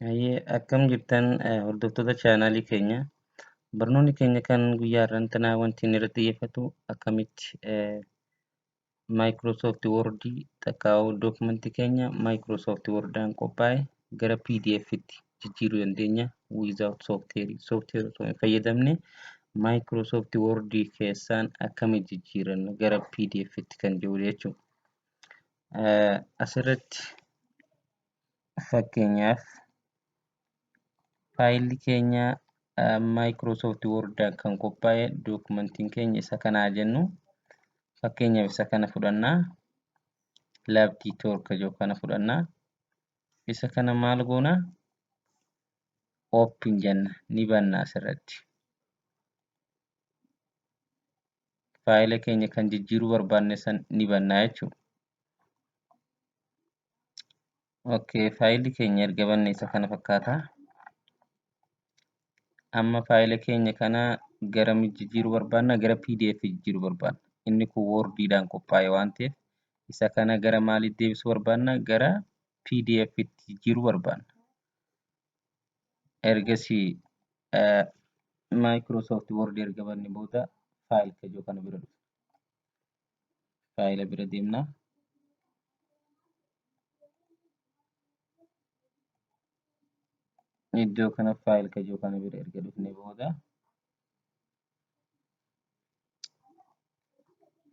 Hayyee akkam jirtan eh, hordoftoota chaanaalii keenya barnoonni keenya kan guyyaa irrantana wanti inni irratti xiyyeeffatu akkamitti eh, Microsoft Word takkaa document keenya Microsoft Word dhaan qophaa'e gara PDF tti jijjiiruu dandeenya without software software osoo hin fayyadamne Microsoft Word keessaan akkami jijjiiranna gara PDF tti kan jiru jechuudha. Asirratti fakkeenyaaf faayilli keenya Microsoft Word kan qophaa'e dookumentiin keenya isa kana haa jennu. Fakkeenyaaf isa kana fudhanna. Labdii torka jiru kana fudhanna. Isa kana maal goona? Open jenna. Ni banna asirratti. Faayila keenya kan jijjiiruu barbaanne san ni banna jechuudha. Okay, faayilli keenya erga banne isa kana fakkaata. Amma faayila keenya kana gara mi jijjiiruu barbaanna? Gara PDF jijjiiruu barbaanna. Inni kun Word dhaan qophaa'e waan ta'eef isa kana gara maaliitti deebisuu barbaanna? Gara PDF tti jijjiiruu barbaanna. Ergasii eh, Microsoft Word erga banne booda faayil kajoo kana bira dhufa. faayila bira deemna. Iddoo kana faayil kajoo kana bira erga dhufne booda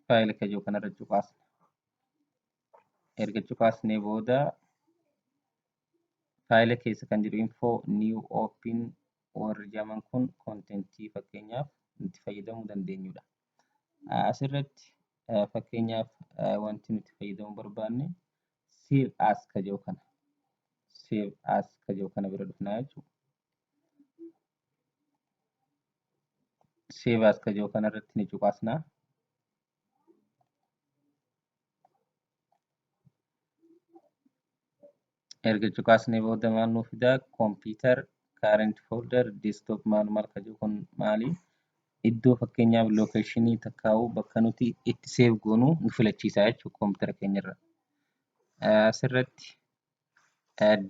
faayila kajoo kana irra cuqaasna. Erga cuqaasnee booda faayila keessa kan jiru info new open warri jaman kun kontentii fakkeenyaaf itti fayyadamuu dandeenyudha. Asirratti fakkeenyaaf wanti nuti fayyadamuu barbaanne save as ka jedhu kana. Save as ka jedhu kana bira dhufnaa jechuudha. Save as ka jedhu kana irratti ni cuqasnaa. erga cuqaasnee booda maal nuu fidaa computer current folder desktop maal maal ka jiru kun maali iddoo fakkeenyaaf location takkaa'u bakka nuti itti save goonu nu filachiisaa jechuudha computer keenyarra asirratti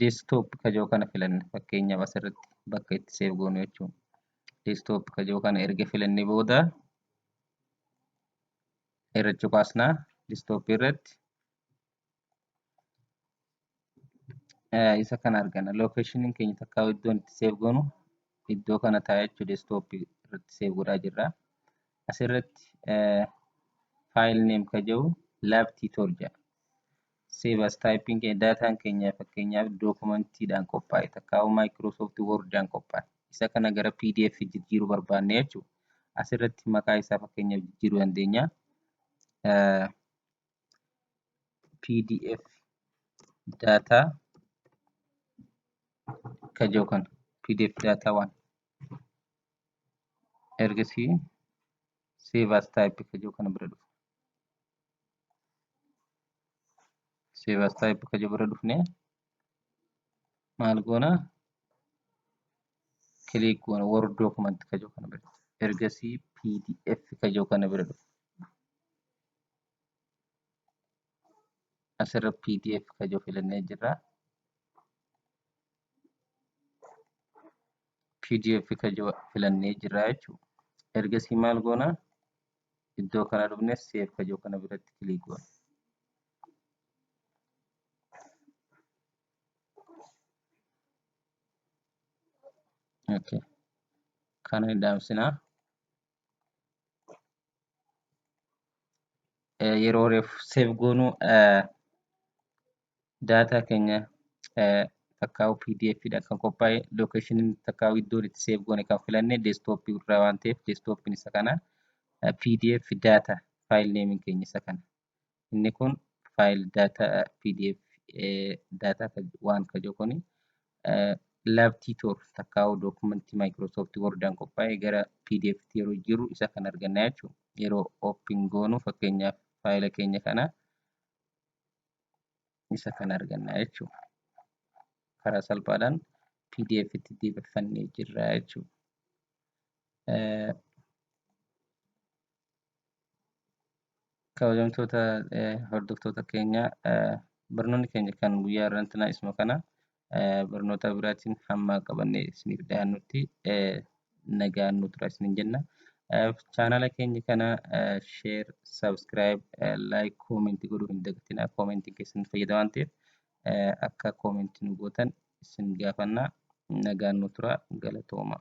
desktop ka jiru kana filanna fakkeenyaaf asirratti bakka itti save goonu jechuudha desktop ka jiru kana erga filannee booda irra cuqaasnaa desktop irratti Eh, isa kana argana lokeeshiniin keenya takka iddoon itti seef goonu iddoo kana taa'ee jechuu deeskitooppii irratti seef godhaa jirra asirratti eh, faayil neem ka jedhu laab tiitoor jedha seef as taayipiin keenya daataan keenya fakkeenyaaf dookumantiidhaan qophaa'e takka maayikiroosoofti woordaan qophaa'e isa kana gara pdf jijjiiruu barbaanne jechuudha asirratti maqaa isaa fakkeenyaaf jijjiiruu dandeenya Eh, pdf data ka jiru kana pdf data waan ergasii save as type ka jiru kana bira dhufu save as type ka jiru bira dhufne maal goona click goona word document ka jiru kana bira ergasii pdf ka jiru kana bira dhufu asirra pdf kajoo filannee jirra pdf kajoo filannee jirra jechuu ergasii maal goona iddoo kana dhufne seef kajoo kana biratti kilii goona okay kana hin dhaamsinaa eh, yeroo reef save goonu eh, data keenya eh, takkaa'u pdf dha kan qophaa'e location takkaa'u iddoon itti save goone kan filanne desktop irraa waan ta'eef desktop isa kana eh, pdf data file name keenya isa kana Inni kun file data pdf data waan ka jiru kun labtii tool takkaa'u dookumentti Microsoft Wordaan qophaa'e gara pdf tti yeroo jiru isa kan arganna jechuudha. Yeroo open goonu fakkeenyaaf faayila keenya kana isa kan arganna jechuudha. Karaa salphaadhaan pdf tti deebifannee jirra jechuudha. kabajamtoota hordoftoota keenya barnoonni keenya kan guyyaa irrantinaa isuma kana barnoota biraatiin hamma qabanne isiniif dhiyaannutti nagaan nu tura isinin jenna. Chaanala keenya kana sheer, sabskiraayib, laayik, koomentii godhuu hin dagatinaa. Koomentiin keessan fayyada waan ta'eef akka koomentii nu gootan isin gaafanna. Nagaan nu tura galatoomaa.